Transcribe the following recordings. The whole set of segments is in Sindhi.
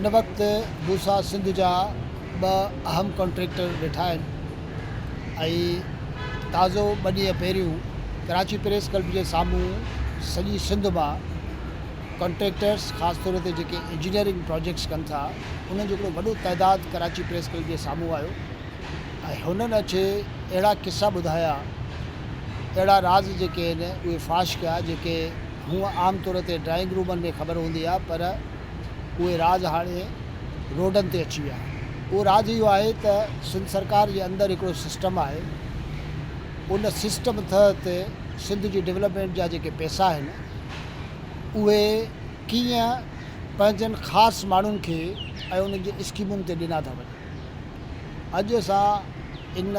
هن وقت بوسا سنڌ جا ٻه اهم ڪنٽريڪٽر ويٺا آهن ۽ تازو ٻه ڏينهن پهريون ڪراچي پريس ڪلب جي سامهون سڄي سنڌ مان ڪنٽريڪٽرس خاص طور تي جيڪي انجنيئرنگ پراجيڪٽس ڪن ٿا انهن جو هڪڙو وڏو تعداد ڪراچي پريس ڪلب جي سامهون آيو ۽ هنن اچي اهڙا قصا ٻڌايا اهڙا راز جيڪي آهن اهي فاش ڪيا جيڪي هونء عام طور تي ڊرائنگ رومن ۾ خبر هوندي آهي پر اهي راز هاڻي روڊن تي اچي ويا آهن. اهو راز اهو آهي ته سنڌ سرڪار جي اندر هڪڙو سسٽم آهي، ان سسٽم تحت سنڌ جي ڊولپمينٽ جا جيڪي پئسا آهن اهي ڪيئن پنهنجن خاص ماڻهن کي ۽ انهن جي اسڪيمن تي ڏنا ٿا وڃن. اڄ اسان ان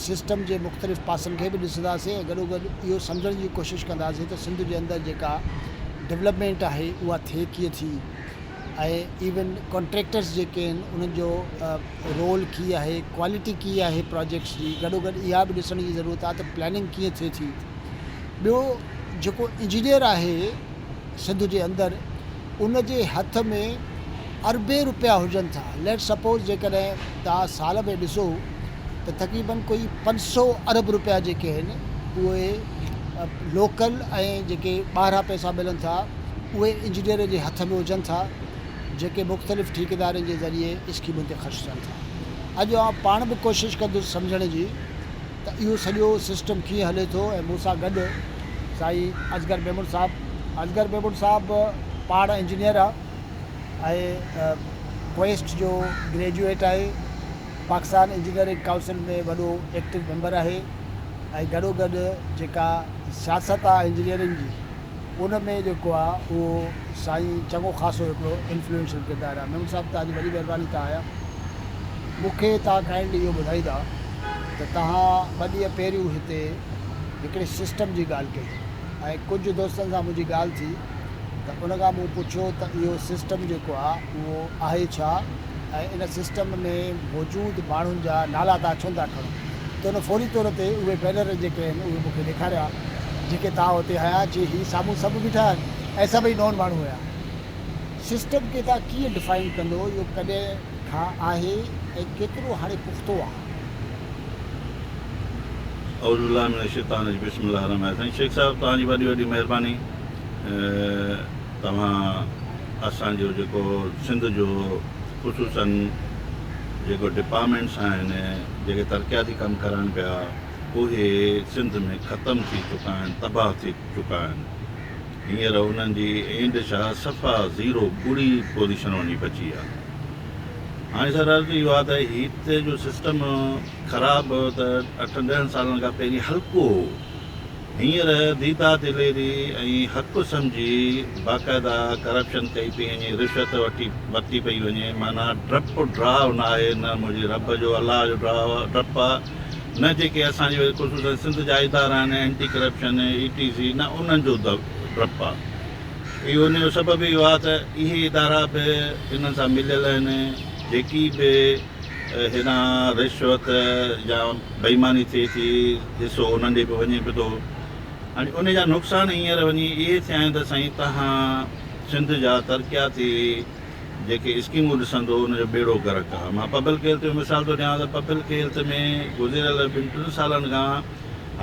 سسٽم جي مختلف پاسن کي به ڏسنداسين ۽ گڏوگڏ اهو سمجهڻ جي ڪوشش ڪنداسين ته سنڌ جي اندر جيڪا ڊولپمينٽ آهي اها ٿئي ڪيئن ٿي ۽ ايون ڪانٽريڪٽرز جيڪي آهن انهن جو رول ڪي آهي ڪوالٽي ڪي آهي پراجيڪٽس جي گڏوگڏ اها به ڏسڻ جي ضرورت آهي ته پلاننگ ڪيئن ٿئي ٿي ٻيو جيڪو انجنيئر آهي سنڌ جي اندر ان جي هٿ ۾ اربين روپيا هجن ٿا ليٽس سپوز جيڪڏهن توهان سال ۾ ڏسو ته تقريبن ڪوئي پنج سو ارب روپيا جيڪي آهن اهي لوڪل ۽ جيڪي ٻاهران پئسا ملن ٿا اهي انجنيئر جي هٿ ۾ هجن ٿا جيڪي مختلف ٺيڪيدارن جي ذريعي اسڪيمن تي خرچ ٿين ٿا اڄ آئون پاڻ به ڪوشش ڪندس سمجهڻ جي ته اهو سڄو سسٽم ڪيئن هلي ٿو ۽ مون سان گڏ سائين اصغر ميمڻ صاحب اصغر ميمڻ صاحب پاڻ انجنيئر آ ۽ ڪوئيسٽ جو گريجوئيٽ آهي پاڪستان انجنيئرنگ ڪائونسل ۾ وڏو ايڪٽو ميمبر آهي ۽ گڏو گڏ جيڪا سياست آ انجنيئرنگ جي ان ۾ جيڪو آ اهو سائين چڱو خاصو هڪڙو انفلوئنشل ڪردار آ. ميمڻ صاحب توهانجي وڏي مهرباني ٿا آهيان مون کي توهان ڪائنڊلي اهو ٻڌائيندا ته توهان ٻه ڏينهن پهريون هتي هڪڙي سسٽم جي ڳالهه ڪئي ۽ ڪجهه دوستن سان منهنجي ڳالهه ٿي ته ان کان مون پڇيو ته اهو سسٽم جيڪو آ اهو آهي ڇا؟ ۽ ان سسٽم ۾ موجود ماڻهن جا نالا توهان ڇو نٿا کڻو ته هن فوري طور تي اهي بينر جيڪي آهن اهي مون کي ڏيکاريا جيڪي توهان اتي هنيا جي هي سامهون سڀ بيٺا آهن ۽ سڀئي نون ماڻهو هيا سسٽم کي توهان ڪيئن ڊفائن ڪندو اهو ڪڏهن کان آهي ۽ ڪيترو هاڻي پختو آهي. اعوذ بالله من الشيطان الرجيم بسم الله الرحمٰن الرحيم سائين شيخ صاحب توهان جي وڏي وڏي مهرباني. توهان اسان جو جيڪو سنڌ جو خصوصاً جيڪو ڊپامينٽس آهن جيڪي ترقياتي ڪم ڪرن پيا اهي سنڌ ۾ ختم ٿي چڪا آهن تباهه ٿي چڪا آهن هينئر انهن جي اينڊ شاهه صفا زيرو ٻڙي پوزيشن وڃي پچي آهي هاڻي سر عرض اهو آهي ته هتي جو سسٽم خراب ته اٺن ڏهن سالن کان پهرين هلڪو هو هينئر ديدا دليري ۽ حق سمجهي باقاعده ڪرپشن ڪئي پئي وڃي رشوت ورتي پئي وڃي معنيٰ ڊپ ڊراء ناهي نه منهنجي رب جو الله جو ڊراء ڊپ آ نه جيڪي اسان جي ويل خصوصن سنڌ جا ادارا آهن اينٽي ڪرپشن اي ٽي سي نه انهن جو ڊپ آ اهو ان جو سبب اهو آ ته اهي ادارا به انهن سان مليل آهن جيڪي به هيڏانهن رشوت يا بيماني ٿئي ٿي حصو انهن ڏي به وڃي به ٿو ۽ ان جا نقصان هينئر وڃي اهي ٿيا آهن ته سائين توهان سنڌ جا ترقياتي جيڪي اسڪيمون ڏسندو ان جو ٻيڙو غرق آهي مان پبلڪ هيلٿ جو مثال ٿو ڏيان ته پبلڪ هيلٿ ۾ گذريل ٻن ٽن سالن کان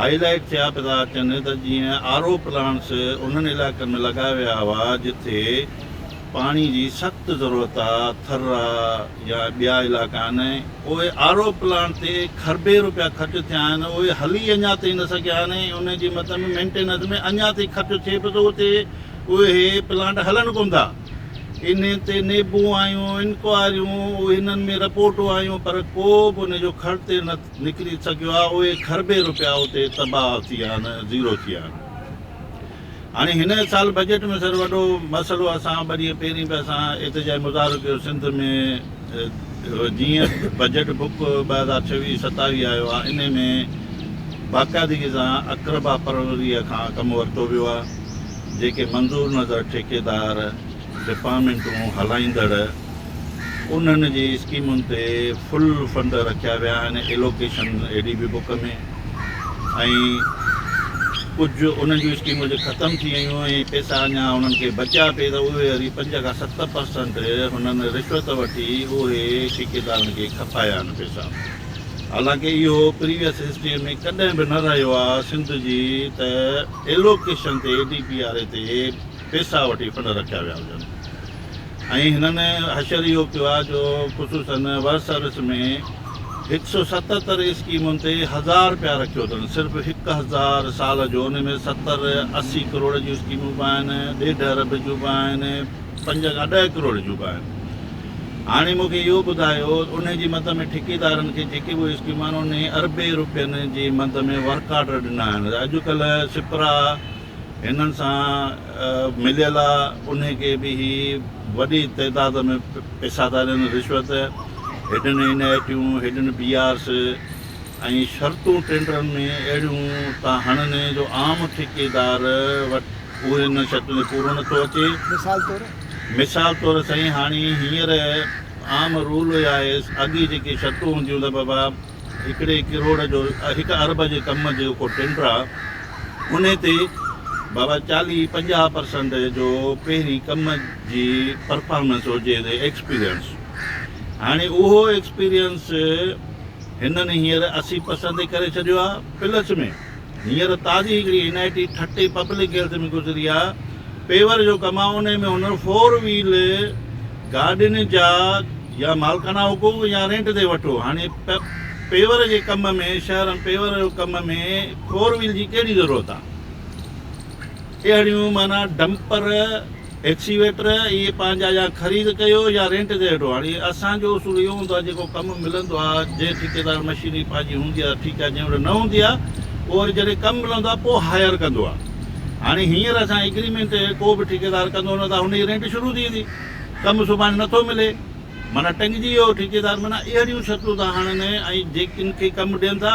هائي لائيٽ ٿيا پيا ٿا اچن ته جيئن آر او پلانٽس انهن علائقن ۾ لڳايا ويا هئا جتي پاڻي جي سخت ضرورت آ، ٿرا يا ٻيا علائقا آهن ۽ پوء آر او پلانٽ تي کربين روپيا خرچ ٿيا آهن اهي هلي اڃا تائين نه سگهيا آهن ۽ انهن جي مد ۾ مينٽيننس ۾ اڃا تائين خرچ ٿئي پيو ته اتي اهي پلانٽ هلن ڪونه ٿا انهن تي نيبون آيون انڪوائريون انهن ۾ رپورٽون آيون پر ڪو به ان جو خرچ نه نڪري سگهيو آ اهي کربين روپيا اتي تباهه ٿي ويا آهن زيرو ٿي ويا آهن. هاڻي هن سال بجيٽ ۾ سر وڏو مسئلو اسان ٻه ڏينهن پهرين به اسان احتجاجي مظاهرو ڪيو سنڌ ۾ جيئن بجيٽ بڪ ٻه هزار ڇويهه ستاويهه آيو آهي انهي ۾ باقاعدگي سان اقربا پروريء کان ڪم ورتو ويو آهي جيڪي منظور نظر ٺيڪيدار ڊپارٽمينٽون هلائيندڙ انهن جي اسڪيمن تي فل فنڊ رکيا ويا آهن allocation A D B book ۾ ۽ ڪجهه انهن جون اسڪيمون جي ختم ٿي ويون ۽ پيسا اڃا انهن کي بچيا پي ته اهي وري پنج کان ست پرسنٽ هنن رشوت وٺي اهي ٺيڪيدارن کي کپايا آهن پيسا حالانڪ اهو پريويس هسٽري ۾ ڪڏهن به نه رهيو آهي سنڌ جي ته ايلوڪيشن تي A D P R E تي پيسا وٺي پنڊ رکيا ويا هجن ۽ هنن حشر اهو ڪيو آهي جو خصوصاً ورس ارس ۾ هڪ سئو ستتر اسڪيمن تي هزار رپيا رکيو اٿن صرف هڪ هزار سال جو ان ۾ ستر اسي ڪروڙ جون اسڪيمون به آهن ڏيڍ ارب جون به آهن پنج کان ڏهه ڪروڙ جون به آهن هاڻي مون کي اهو ٻڌايو انهي جي مد ۾ ٺيڪيدارن کي جيڪي به اسڪيمون آهن انهي اربين رپين جي مد ۾ ورڪ آرڊر ڏنا آهن اڄ ڪلهه سپرا هنن سان مليل انهي کي به هي وڏي تعداد ۾ پئسا ٿا ڏين، رشوت، هيڊن اين آء ٽيون، هيڊن پي آرس ۽ شرطون ٽينڊرن ۾ اهڙيون ٿا هڻن جو عام ٺيڪيدار وٽ اهي نه شرطون پورو نه ٿو اچي. مثال طور؟ مثال طور سائين هاڻي هينئر عام رول اهي آهي اڳي جيڪي شرطون هونديون ته بابا. هڪڙي ڪروڙ جو هڪ ارب جي ڪم جي ڪو ٽينڊر آ ان تي بابا چاليهه پنجاهه پرسنٽ جو پهرين ڪم جي پرفارمنس هجي ايڪسپيرينس هاڻي اهو ايڪسپيرينس هنن هينئر اسي پرسنٽ تي ڪري ڇڏيو آ پلس ۾ هينئر تازي هڪڙي N I T Thatta public health ۾ گذري آ پيور جو ڪم آ انهي ۾ هنر فور ويل گاڏين جا يا مالڪانه حقوق يا رينٽ تي وٺو هاڻي پيور جي ڪم ۾ شهرن پيور جو ڪم ۾ فور ويل جي ڪهڙي ضرورت آ اهڙيون معنيٰ ڊمپر ايڪسيويٽر اهي پنهنجا يا خريد ڪيو يا رينٽ تي وٺو. هاڻي اسان جو اصول اهو هوندو آهي جيڪو ڪم ملندو آهي جنهن ٺيڪيدار مشينري پنهنجي هوندي آهي ته ٺيڪ آهي جنهن وٽ نه هوندي آهي اهو وري جڏهن ڪم ملندو آهي پوء هائير ڪندو آهي. هاڻي هينئر اسان جي اگريمينٽ ڪو به ٺيڪيدار ڪندو نه ته هن جي رينٽ شروع ٿي ويندي. ڪم سڀاڻي نه ٿو ملي معنيٰ ٽنگجي ويو ٺيڪيدار معنيٰ اهڙيون شرطون ٿا هڻن ۽ جيڪي ان کي ڪم ڏين ٿا.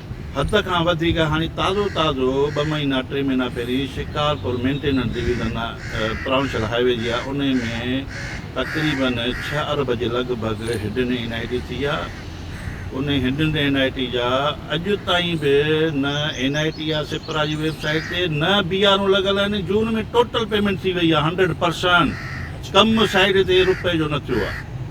حد کان وڌيڪ هاڻي تازو تازو ٻه مهينا ٽي مهينا پهرين Shikarpur maintenance division provincial highway جي آء انهي ۾ تقريبن ڇهه ارب جي لڳ ڀڳ هڊن اين آء ٽي ٿي آء انهي هڊن اين آء ٽي جا اڄ تائين به نه اين آء ٽي آء سپرا جي ويب سائيٽ تي نه بي آر اون لڳل آهن جون ۾ ٽوٽل پيمينٽ ٿي وئي آء هنڊريڊ پرسنٽ ڪم سائيٽ تي رپئي جو نه ٿيو آء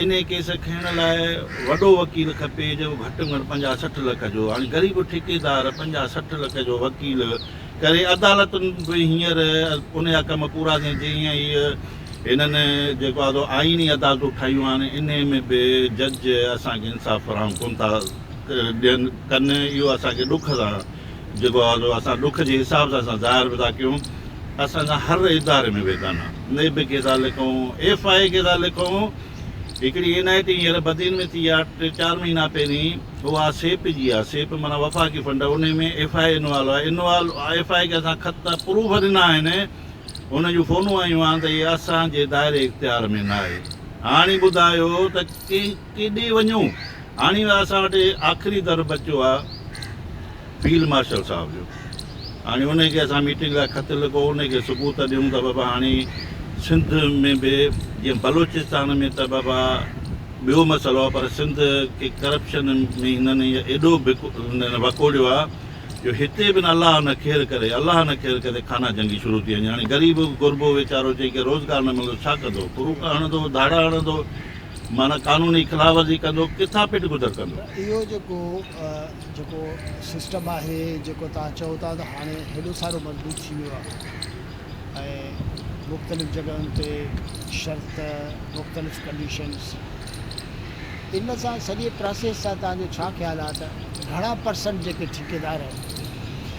انهيء ڪيس کنئڻ لاء وڏو وڪيل کپي جيڪو گهٽ ۾ گهٽ پنجاهه سٺ لک جو هاڻي غريب ٺيڪيدار پنجاهه سٺ لک جو وڪيل ڪري عدالتن به هينئر انهيا ڪم پورا ٿين جيئن ئي هنن جيڪو آهي سو آئيني عدالتون ٺاهيون آهن انهيء ۾ به جج اسان کي انصاف فراهم ڪونه ٿا ڏين ڪن اهو اسان کي ڏک سان جيڪو آ سو اسان ڏک جي حساب سان اسان ظاهر به ٿا ڪيون اسان جا هر اداري ۾ ويدا نه نيب کي ٿا لکون ايف آء اي کي ٿا لکون هڪڙي اين آء ٽي هينئر بدين ۾ ٿي آ ٽي چار مهينا پهرين هو آ سيپ جي آ سيپ معنی وفاقي فنڊ ان ۾ ايف آء اي انوالو آ انوال ايف آء اي کي اسان خط پروف ڏنا آهن ان جون فونون آيون آهن ته هي اسان جي دائري اختيار ۾ نه آهي هاڻي ٻڌايو ته ڪي ڪيڏي وڃون؟ هاڻي اسان وٽ آخري در بچيو آهي فيلڊ مارشل صاحب جو. هاڻي انهي کي اسان ميٽنگ لاء خط لکو، انهي کي ثبوت ڏيون ته بابا هاڻي سنڌ ۾ به جيئن بلوچستان ۾ ته بابا ٻيو مسئلو آهي پر سنڌ کي ڪرپشن ۾ هنن ايڏو وڪوڙيو آهي جو هتي به نه الله نه خير ڪري الله نه خير ڪري خانه جنگي شروع ٿي وڃي. هاڻي غريب غربو ويچارو جنهن کي روزگار نه ملندو ڇا ڪندو؟ ڪروڪا هڻندو، ڌاڙا هڻندو. معنيٰ قانوني خلاف ورزي ڪندو ڪٿان پٽ گذر ڪندو. اهو جيڪو جيڪو سسٽم آهي جيڪو توهان چئو ٿا ته هاڻي هيڏو سارو مضبوط ٿي ويو آهي ۽ مختلف جڳهين تي شرط مختلف ڪنڊيشنز ان سان سڄي پراسيس سان توهان جو ڇا خيال آهي ته گهڻا پرسنٽ جيڪي ٺيڪيدار آهن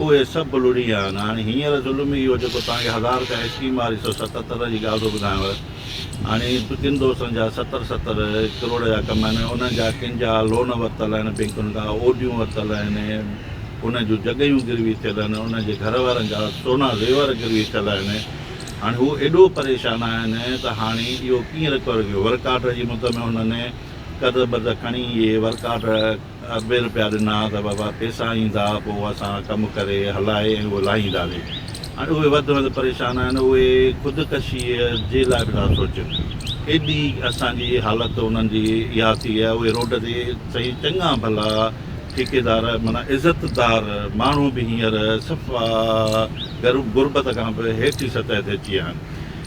اهي سڀ لڙي ويا آهن. هاڻي هينئر ظلم اهو جيڪو توهان کي هزار کان اسڪيم واري سو ستتر جي ڳالهه ٿو ٻڌايانو. هاڻي ڪن دوستن جا ستر ستر ڪروڙ جا ڪم آهن. انهن جا ڪن جا لون ورتل آهن بئنڪن کان، او ڊيون ورتل آهن، انهن جون جڳهيون گروي ٿيل آهن، انهن جي گهر وارن جا سونا زيور گروي ٿيل آهن. هاڻي هو ايڏو پريشان آهن ته هاڻي اهو ڪيئن رڪور ڪيون. ورڪ آرڊر جي مد ۾ هنن قرض برض کڻي اهي ورڪ آرڊر اٻي روپيا ڏنا ته بابا پيسا ايندا پوء اسان ڪم ڪري هلائي ۽ اهو لاهينداسي هاڻي اهي وڌ وڌ پريشان آهن اهي خودڪشيء جي لاء به ٿا سوچين ايڏي اسان جي حالت انهن جي اها ٿي آهي اهي روڊ تي سائين چڱا ڀلا ٺيڪيدار معنيٰ عزتدار ماڻهو به هينئر صفا غربت کان به هيٺين سطح تي اچي ويا آهن.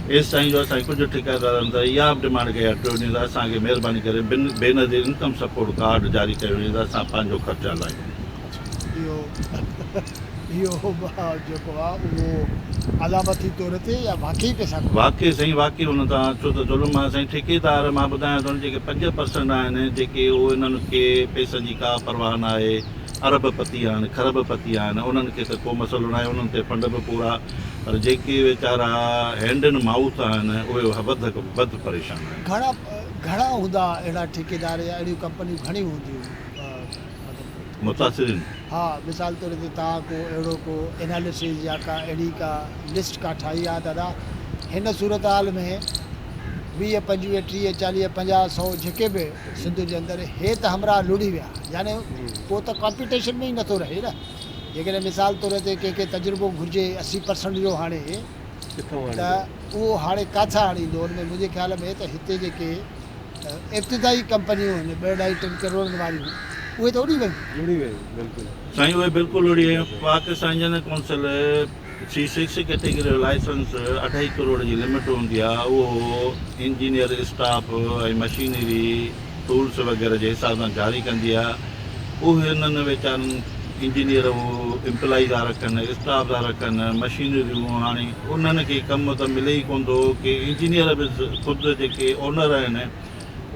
ايس سائين جو اسان ڪجهه ٺيڪيدارن ته اها به ڊمانڊ ڪئي آهي ٽيون ڏينهن ته اسان کي مهرباني ڪري بن بينظير انڪم سپورٽ ڪارڊ جاري ڪيو وڃي ته اسان پنهنجو خرچ هلائون. اهو اهو جيڪو آ اهو علامتي طور تي يا واقعي پئسا ڪونه. واقعي سائين واقعي ان تان اچو ته ظلم آهي سائين ٺيڪيدار مان ٻڌايان ٿو جيڪي پنج پرسنٽ آهن جيڪي اهو انهن کي پئسن جي ڪا پرواهه ناهي ارب پتي آهن کرب پتي آهن انهن کي ته ڪو مسئلو ناهي انهن تي فنڊ به پورا پر جيڪي ويچارا هينڊ اينڊ مائوٿ آهن اهي وڌ وڌ پريشان آهن. گهڻا گهڻا هوندا اهڙا ٺيڪيدار يا اهڙيون ڪمپنيون گهڻيون هونديون مطلب متاثرين. ها مثال طور تي توهان ڪو اهڙو ڪو اناليسز يا ڪا اهڙي ڪا لسٽ ڪا ٺاهي ها دادا هن صورتحال ۾ ويهه پنجويهه ٽيهه چاليهه پنجاهه سئو جيڪي به سنڌ جي اندر هي ته همراهه لڙي ويا يعني ڪو ته ڪمپيٽيشن ۾ ئي نٿو رهي نه. جيڪڏهن مثال طور تي ڪنهن کي تجربو گهرجي اسي پرسنٽ جو هاڻي ته اهو هاڻي ڪاٿان آڻيندو ان ۾ منهنجي خيال ۾ ته هتي جيڪي ابتدائي ڪمپنيون آهن ٻه اڍائي ٽن ڪروڙن واريون اهي ته اڙي ويون. سائين اهي بلڪل اڙي ويون پاڪ سائين general council C six category جو لائسنس اڍائي ڪروڙ جي لمٽ هوندي آهي، اهو انجنيئر اسٽاف ۽ مشينري، ٽولز وغيره جي حساب سان جاري ڪندي آهي. اهي انهن ويچارن انجنيئر اهو امپلائي ٿا رکن، اسٽاف ٿا رکن، مشينريون هاڻي انهن کي ڪم ته ملي ئي ڪونه ٿو ڪي انجنيئر به خود جيڪي اونر آهن،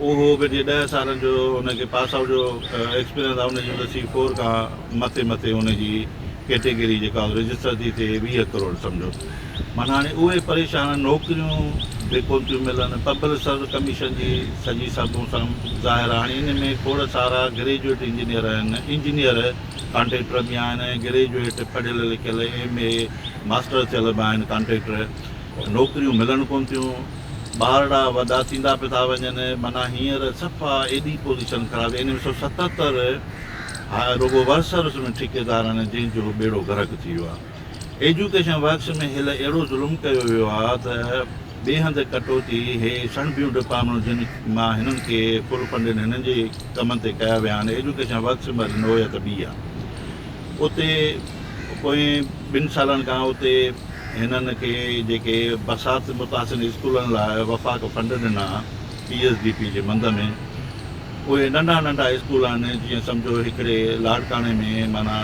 اهو هو ڪه جي ڏهه سالن جو هن کي پاس آئوٽ جو ايڪسپيرينس آهي ان جي مطلب سي فور کان مٿي مٿي ان جي ڪيٽيگري جيڪا رجسٽر ٿي ٿئي ويهه ڪروڙ سمجهو معنيٰ هاڻي اهي پريشان نوڪريون به ڪون ٿيون ملن پبلڪ سروس ڪميشن جي سڄي سبون سم ظاهر آهي هاڻي ان ۾ کوڙ سارا گريجوئيٽ انجنيئر آهن انجنيئر ڪانٽريڪٽر به آهن ۽ گريجوئيٽ پڙهيل لکيل ايم اي ماسٽر ٿيل به آهن ڪانٽريڪٽر نوڪريون ملڻ ڪون ٿيون، ٻارڙا وڏا ٿيندا پئي ٿا وڃن، معنيٰ هينئر صفا ايڏي پوزيشن خراب ٿي وئي انهن سو ستهتر رڳو ورسرس ۾ ٺيڪيدارن جنهن جو ٻيڙو غرق ٿي ويو آهي. ايجوڪيشن ورڪس ۾ هيل اهڙو ظلم ڪيو ويو آهي ته ٻئي هنڌ ڪٽوتي هي سڻڀيون ڊپارٽمينٽون جن مان هنن کي فل فنڊيڊ هنن جي ڪمن تي ڪيا ويا آهن ايجوڪيشن ورڪس ۾ اڄ نوعيت ٻي آهي. اتي پوئين ٻن سالن کان اتي هنن کي جيڪي برسات متاثرين اسڪولن لاء وفاق فنڊ ڏنا پي ايس ڊي پي جي مند ۾ اهي ننڍا ننڍا اسڪول آهن جيئن سمجهو هڪڙي لاڙڪاڻي ۾ معنيٰ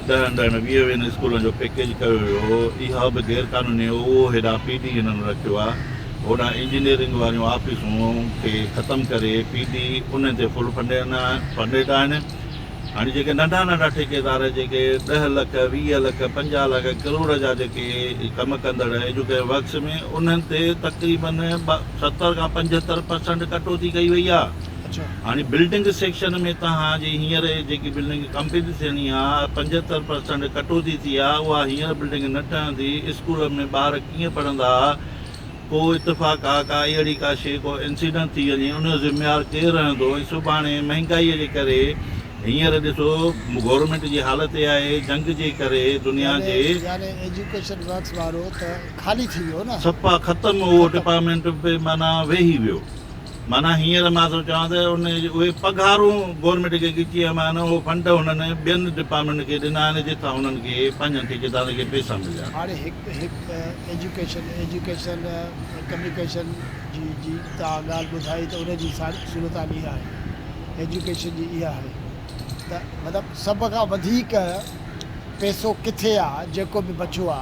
ڏهن ڏهن ويهه ويهن اسڪولن جو پيڪيج ڪيو ويو هو اها به غير قانوني هو اهو هيڏانهن پي ڊي هنن رکيو آهي هوڏانهن انجنيئرنگ واريون آفيسون کي ختم ڪري پي ڊي انهن تي فل فنڊيڊ آهن هاڻي جيڪي ننڍا ننڍا ٺيڪيدار جيڪي ڏهه لک ويهه لک پنجاهه لک ڪروڙ جا جيڪي ڪم ڪندڙ ايجوڪيشن ورڪس ۾ انهن تي تقريبن ستر کان پنجهتر پرسنٽ ڪٽوتي ڪئي وئي آ هاڻي بلڊنگ سيڪشن ۾ توهان جي هينئر جيڪي بلڊنگ ڪمپليٽ ٿيڻي آ پنجهتر پرسنٽ ڪٽوتي ٿي آ اها هينئر بلڊنگ نه ٺهندي اسڪولن ۾ ٻار ڪيئن پڙهندا ڪو اتفاق آ ڪا اهڙي ڪا شيء ڪو انسيڊنٽ ٿي وڃي ان جو ذميوار ڪير رهندو ۽ سڀاڻي مهنگائي جي ڪري هينئر ڏسو گورنمينٽ جي حالت اها آهي جنگ جي ڪري دنيا جي يعني ايجوڪيشن ورڪس وارو ته خالي ٿي ويو نه. سپا ختم اهو ڊپارٽمينٽ به معنيٰ ويهي ويو. معنيٰ هينئر مان ٿو چوان ته ان اهي پگهارون گورنمينٽ کي ڳچيء مان آهن، اهو فنڊ هنن ٻين ڊپارٽمينٽن کي ڏنا آهن جتان هنن کي پنهنجن ٺيڪيدارن کي پئسا مليا. هاڻي هڪ هڪ ايجوڪيشن، ايجوڪيشن، ڪميونيڪيشن جي جي توهان ڳالهه ٻڌائي ته ان جي ساري صورتحال اها آهي، ايجوڪيشن جي اها آهي ته مطلب سڀ کان وڌيڪ پئسو ڪٿي آ جيڪو به بچيو آ،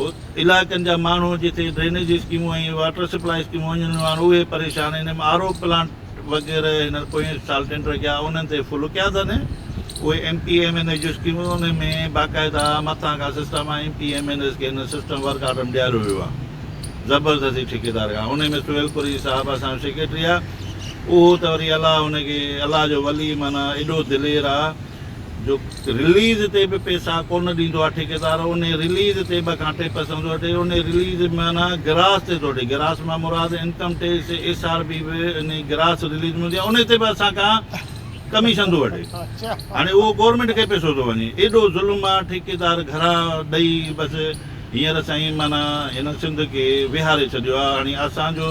علائقن جا ماڻهو جتي ڊرينيج اسڪيمون ۽ واٽر سپلاء اسڪيمون وڃنيون آهن اهي پريشان N M R O plant وغيره هينئر پوئين سال ٽينڊر ڪيا انهن تي فل ڪيا اٿن اهي M P M N S جون اسڪيمون ان ۾ باقاعده مٿان کان سسٽم آهي M P M N S کي هن سسٽم ورڪ آرڊر ۾ ڏياريو ويو آهي زبردستي ٺيڪيدار کان ان ۾ سهيل پوري صاحب اسان جو سيڪريٽري آهي اهو ته وري الله ان کي الله جو ولي معنيٰ ايڏو دلير آهي جو رليز تي به پيسا ڪونه ڏيندو آهي ٺيڪيدار انهي رليز تي ٻه کان ٽي پرسنٽ ٿو وٺي انهي رليز معنيٰ گراس تي ٿو وٺي گراس مان مراد income tax S R B به انهي گراس رليز ۾ هوندي آهي انهي تي به اسان کان ڪميشن ٿو وٺي هاڻي اهو گورنمينٽ کي پيسو ٿو وڃي ايڏو ظلم آهي ٺيڪيدار گهرا ڏئي بس هينئر سائين معنيٰ هن سنڌ کي ويهاري ڇڏيو آهي هاڻي اسان جو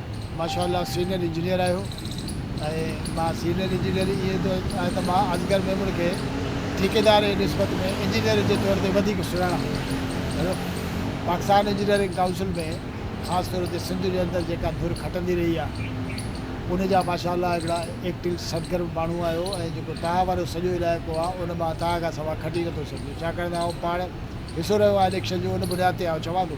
ماشاء الله سينئر انجنيئر آهيو ۽ مان سينئر انجنيئر ائين ٿو چاهيان ته مان اصغر ميمڻ کي ٺيڪيدار جي نسبت ۾ انجنيئر جي طور تي وڌيڪ سڃاڻان ٿو. پاڪستان انجنيئرنگ ڪائونسل ۾ خاص طور تي سنڌ جي اندر جيڪا ڌر کٽندي رهي آهي ان جا ماشاء الله هڪڙا ايڪٽو سرگرم ماڻهو آهيو ۽ جيڪو تهان وارو سڄو علائقو آهي ان مان تهان کان سواء کٽي نٿو سگهجي ڇاڪاڻ ته آئون پاڻ حصو رهيو آهيان اليڪشن جو ان بنياد تي آئون چوان ٿو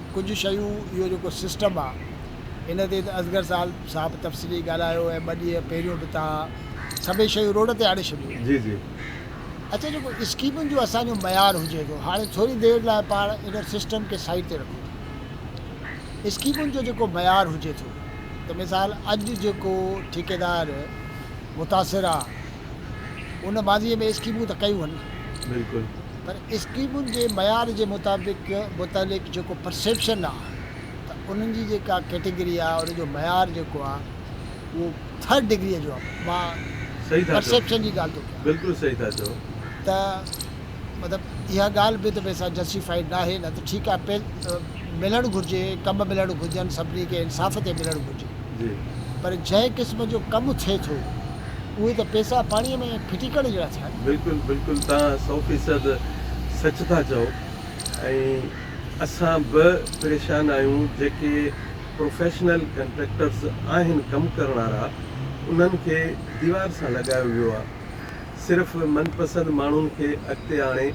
ڪجهه شيون اهو جيڪو سسٽم آ ان تي ته اصغر سال صاحب تفصيلي ڳالهايو ۽ ٻه ڏينهن پهريون به توهان سڀئي شيون روڊ تي آڻي شڏيون آهن جي جي. اچا جيڪو اسڪيمن جو اسان جو معيار هجي ٿو هاڻي ٿوري دير لاء پاڻ ان سسٽم کي سائيڊ تي رکون ٿا اسڪيمن جو جيڪو معيار هجي ٿو ته مثال اڄ جيڪو ٺيڪيدار متاثر آ ان ماضي ۾ اسڪيمون ته ڪيون هن بلڪل. پر اسڪيمن جي معيار جي مطابق متعلق جيڪو پرسيپشن آ ته انهن جي جيڪا ڪيٽيگري آ ان جو معيار جيڪو آ اهو ٿرڊ ڊگريء جو آ مان صحيح ٿا چئو پرسيپشن جي ڳالهه ٿو ڪيان بلڪل صحيح ٿا چئو. ته مطلب اها ڳالهه به ته ڀي سا جسٽيفائيڊ ناهي نه ته ٺيڪ آ پئ ملڻ گهرجي ڪم ملڻ گهرجن سڀني کي انصاف تي ملڻ گهرجي. پر جنهن قسم جو ڪم ٿئي ٿو اهي ته پيسا پاڻي ۾ ڦٽيڪڻ جهڙا ٿيا آهن. بلڪل بلڪل توهان سو فيصد سچ ٿا چئو ۽ اسان به پريشان آهيون جيڪي پروفيشنل ڪنٽريڪٽرز آهن ڪم ڪرڻ وارا انهن کي ديوار سان لڳايو ويو آهي صرف من پسند ماڻهن کي اڳتي آڻي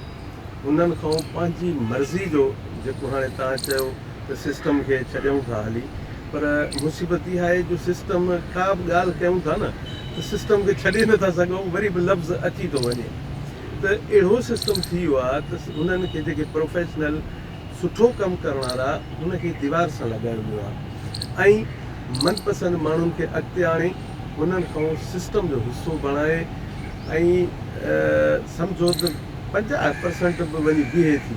هنن کان پنهنجي مرضي جو جيڪو هاڻي توهان چيو ته سسٽم کي ڇڏيون ٿا هلي پر مصيبت اها آهي جو سسٽم ڪا به ڳالهه ڪيون ٿا نه ته سسٽم کي ڇڏي نه ٿا سگهون وري به لفظ اچي ٿو وڃي ته اهڙو سسٽم ٿي ويو آهي ته انهن کي جيڪي پروفيشنل سٺو ڪم ڪرڻ وارا ان کي ديوار سان لڳايو ويو آهي ۽ من پسند ماڻهن کي اڳتي آڻي انهن کان سسٽم جو حصو بڻائي ۽ سمجهو ته پنجاهه پرسنٽ به وڃي بيهي ٿي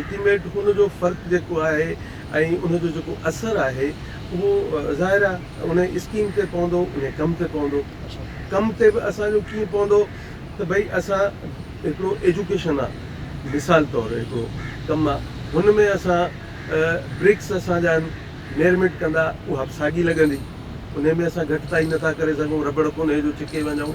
الٽيميٽ ان جو فرق جيڪو آهي ۽ ان جو جيڪو اثر آهي اهو ظاهر آهي ان اسڪيم تي پوندو ان ڪم تي پوندو ڪم تي به اسان جو ڪيئن پوندو ته ڀئي اسان هڪڙو ايجوڪيشن آ مثال طور هڪڙو ڪم آ هن ۾ اسان برڪس اسان جا آهن ميرميٽ ڪندا اها به ساڳي لڳندي ان ۾ اسان گهٽتائي نٿا ڪري سگهون رٻڙ ڪونهي جو ڇڪي وڃون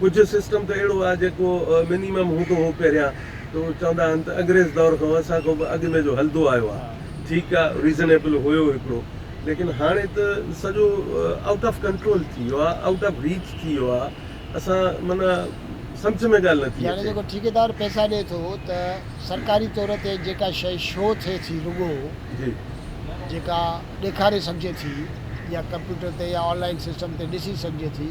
ڪجهه سسٽم ته اهڙو آهي جيڪو منيمم هوندو هو پهريان ته چوندا هئا ته انگريز دور کان اسان کان به اڳ ۾ جو هلندو آيو آهي ٺيڪ آهي ريزنيبل هيو هڪڙو ليڪن هاڻي ته سڄو آئوٽ آف ڪنٽرول ٿي ويو آهي آئوٽ آف ريچ ٿي ويو آهي اسان معنيٰ سمجهه ۾ ڳالهه نٿي اچي. يعني جيڪو ٺيڪيدار پئسا ڏي ٿو ته سرڪاري طور تي جيڪا شيء شو ٿئي ٿي رڳو جي. جيڪا ڏيکاري سگهجي ٿي يا ڪمپيوٽر تي يا آن لائين سسٽم تي ڏسي سگهجي ٿي.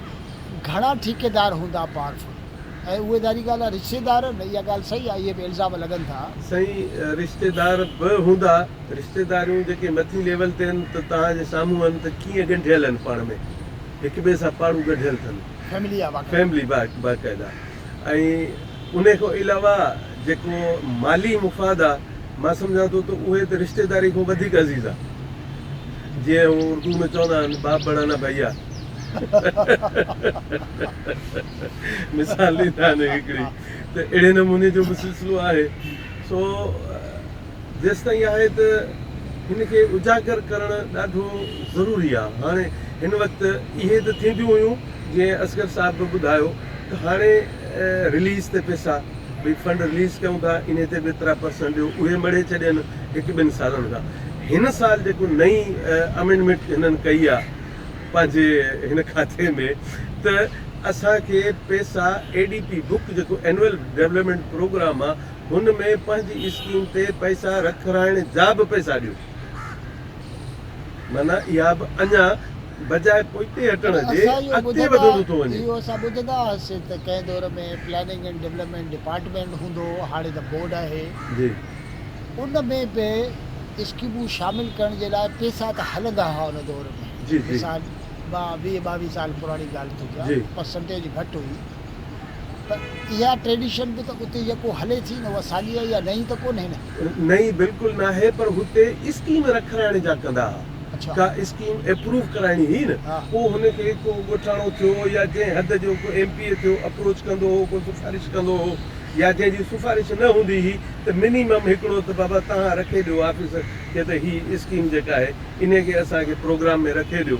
گهڻا ٺيڪيدار هوندا پاورفل ۽ اهي ظاهري ڳالهه آهي رشتيدار اها ڳالهه صحيح آهي اهي به الزام لڳن ٿا. سائين رشتيدار به هوندا رشتيداريون جيڪي مٿين ليول تي آهن ته توهان جي سامهون آهن ته ڪيئن ڳنڍيل آهن پاڻ ۾ هڪ ٻئي سان پاڙون ڳنڍيل اٿن فيملي آهي واقعي. فيملي باقاعده ۽ انهي کان علاوه جيڪو مالي مفاد آهي مان سمجهان ٿو ته اهي ته رشتيداري کان وڌيڪ عزيز آهي. جيئن هو اردو ۾ چوندا آهن باپ بڙانا ڀئيا مثال ڏيندا آهن هڪڙي ته اهڙي نموني جو به سلسلو آهي سو جيستائين آهي ته هن کي اجاگر ڪرڻ ڏاڍو ضروري آهي هاڻي هن وقت اهي ته ٿينديون هيون جيئن اصغر صاحب به ٻڌايو ھاڻي رليز تي پيسا ڀي فنڊ رليز ڪيون ٿا انھي تي به ايترا پرسنٽ ڏيو اھي مڙھي ڇڏين ھڪ ٻن سالن کان ھن سال جيڪو نئين امينڊمينٽ ھنن ڪئي آ پنھنجي ھن کاتي ۾ ته اسان کي پيسا اي ڊي پي بڪ جيڪو اينوئل ڊولپمينٽ پروگرام آ ھن ۾ پنھنجي اسڪيم تي پئسا رکرائڻ جا به پئسا ڏيو. معنيٰ اها به اڃا بجاء پوئتي هٽڻ جي اڳتي وڌندو ٿو وڃي. اهو اسان ٻڌندا هئاسين ته ڪنهن دور ۾ پلاننگ اينڊ ڊولپمينٽ ڊپارٽمينٽ هوندو هو، هاڻي ته بورڊ آهي. ان ۾ به اسڪيمون شامل ڪرڻ جي لاء پئسا ته هلندا هئا ان دور ۾، مثال مان ويهه ٻاويهه سال پراڻي ڳالهه ٿو ڪيان، پرسنٽيج گهٽ هئي. ته اها ٽريڊيشن به ته اتي يڪو هلي ٿي نه اها ساڳي آهي يا نئين ته ڪونهي نه؟ نئين بلڪل ناهي پر هتي اسڪيم رکرائڻ جا ڪندا ها ڪا اسڪيم اپروو ڪرائڻي هئي نه پوء هن کي ڪو ڳوٺاڻو ٿيو يا جنهن حد جو ڪو ايم پي اي ٿيو اپروچ ڪندو هو ڪو سفارش ڪندو هو يا جنهن جي سفارش نه هوندي هئي ته منيمم هڪڙو ته بابا تهان رکي ڏيو آفيسر کي ته هي اسڪيم جيڪا آهي انهي کي اسان کي پروگرام ۾ رکي ڏيو.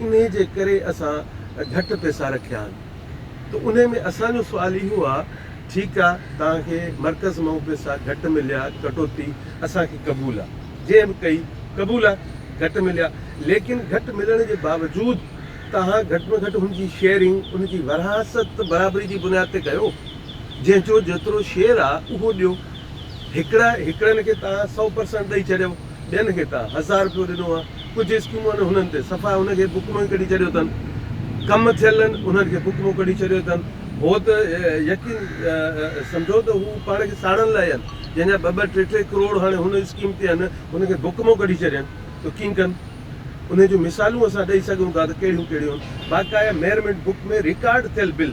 انهي جي ڪري اسان گهٽ پئسا رکيا آهن ته انهي ۾ اسان جو سوال اهو آ ٺيڪ آ توهان کي مرڪز مئون پئسا گهٽ مليا ڪٽوتي اسان کي قبول آ جنهن به ڪئي قبول آ گهٽ مليا ليڪن گهٽ ملڻ جي باوجود توهان گهٽ ۾ گهٽ هن جي شيئرنگ ان جي ورهاست ته برابري جي بنياد تي ڪيو جنهن جو جيترو شيئر آ اهو ڏيو هڪڙا هڪڙن کي توهان سئو پرسنٽ ڏئي ڇڏيو. ڏين کي ڪا هزار رپيو ڏنو آ ڪجهه اسڪيمون آهن انهن تي صفا انهن کي بڪمو ئي ڪڍي ڇڏيو تن ڪم ٿيل آهن انهن کي بڪمو ڪڍي ڇڏيو تن هو ته يقين سمجهو ته هو پاڻ کي ساڙڻ لاء آهن جنهن جا ٻه ٻه ٽي ٽي ڪروڙ هاڻي هن اسڪيم تي آهن انهن کي بڪمو ڪڍي ڇڏين ته ڪيئن ڪن انهن جون مثالون اسان ڏئي سگهون ٿا ته ڪهڙيون ڪهڙيون آهن باقاعده ميرمنٽ بڪ ۾ رڪارڊ ٿيل بل.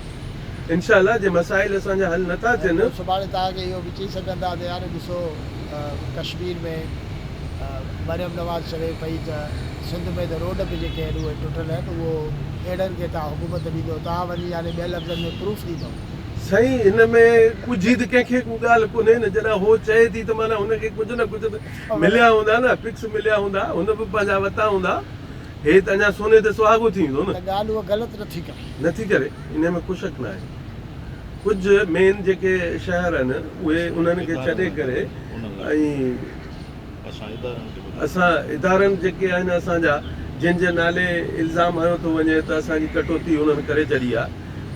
انشاء الله جي مسائل اسان جا حل نٿا ٿين. پوء سڀاڻي توهان کي اهو به چئي سگهندا ته يار ڏسو ڪشمير ۾ مريم نواز چوي پئي ته سنڌ ۾ ته روڊ به جيڪي آهن اهي ٽٽل آهن اهو اهڙن کي توهان حڪومت ڏيندو توهان وڃي يعني ٻين لفظن ۾ پروف ڏيندو. سائين ان ۾ ڳجهي ته ڪنهن کي ڪو ڳالهه ڪونهي نه جڏهن هو چئي ٿي ته معنيٰ هن کي ڪجهه نه ڪجهه ته مليا هوندا نه پڪس مليا هوندا هن به پنهنجا وتا هوندا هي ته اڃا سوني تي سهاڳو ٿي ويندو نه. ته ڳالهه هوء غلط نٿي ڪري. نه ٿي ڪري انهي ۾ ڪو شڪ ناهي ڪجهه مين جيڪي شهر آهن اهي انهن کي ڇڏي ڪري ۽ اسان ادارن جيڪي آهن اسان جا جن جي نالي الزام هنيو ٿو وڃي ته اسان جي ڪٽوتي انهن ڪري ڇڏي آهي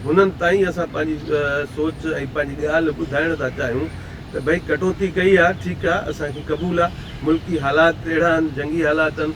انهن تائين اسان پنهنجي سوچ ۽ پنهنجي ڳالهه ٻڌائڻ ٿا چاهيون ته ڀئي ڪٽوتي ڪئي آهي ٺيڪ آهي اسان کي قبول آهي ملڪي حالات اهڙا آهن جنگي حالات آهن